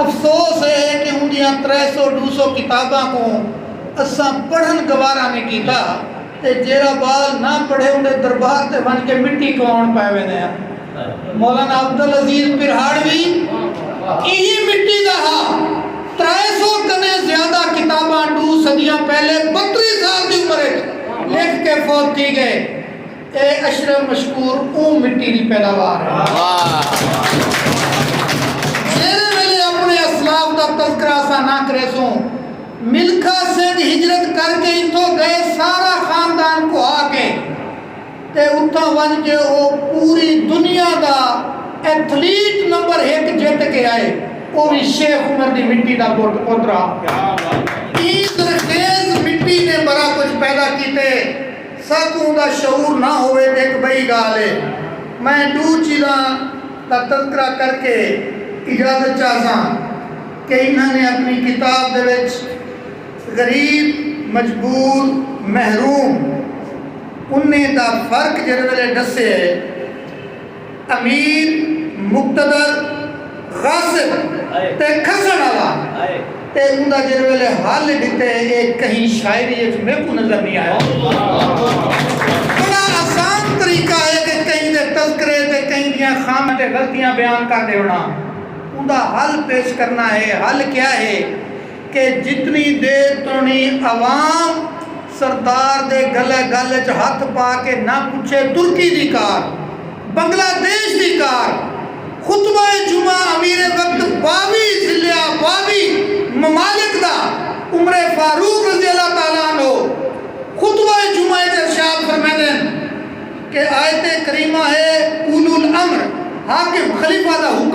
افسوس اے ہے کہ اوندیاں ترے سو ڈو سو کتاباں کوں اساں پڑھن گوارا نی کیتا تے جیرھا بال نہ پڑھے اوندے دربار تے ونج کے مٹی کواون پئے ویندے ہن۔ مولانا عبدالعزیز پرہاڑ وی ایہی مٹی دا ہا۔ ترے سو کنیں زیادہ کتاباں ڈو صدیاں پہلے بتری سال دی عمر اچ لکھ کے فوت تھی گئے۔ اے اشرف مشکور اوں مٹی دی پیداوار جیرھے ویلے اپݨے اسلاف دا تذکرہ اساں نہ کریسوں ملکھا سنگھ ہجرت کر کے اتھو گئے سارا خاندان کوہا کے تے اتھاں ونج کے او پوری دنیا دا ایتھلیٹ نمبر ہک جت کے آئے او وی شیخ عمر دی مٹی دا پٹ پوترا ایں زرخیز مٹی نے بڑا کچھ پیدا کیتے۔ ساکوں اوندا شعور نہ ہووے تے ہک بئی گالھ اے۔ میں ڈو چیزاں دا تذکرہ کر کے اجازت چاہساں کہ انہاں نے اپنی کتاب دے وچ غریب، مجبور، محروم انہیں دا فرق جیندے ویلے ڈسے اے۔ امیر مقتدر غاصب تے کھسݨ آلا تے اوندا جیڑھے ویلے حل ݙتے اے کہیں شاعری اچ میکوں نظر نی آیا بڑا آسان طریقہ اے کہ کہیں دے تذکرے تے کہیں دیاں خامیاں تے غلطیاں بیان کر ݙیوݨا اوندا حل پیش کرݨا اے حل کیا اے کہ جتنی دیر توڑیں عوام سردار دے گلہ گل اچ ہتھ پا کے نہ پچھے ترکی دی کار، بنگلہ دیش دی کار، خطبہ جمعہ امیر وقت باوی ضلع باوی ممالک دا عمر فاروق رضی اللہ تعالی عنہ خطبہ جمعہ اچ ارشاد فرمیندن کہ آیت کریمہ ہے اولو الامر حاکم خلیفہ دا حکم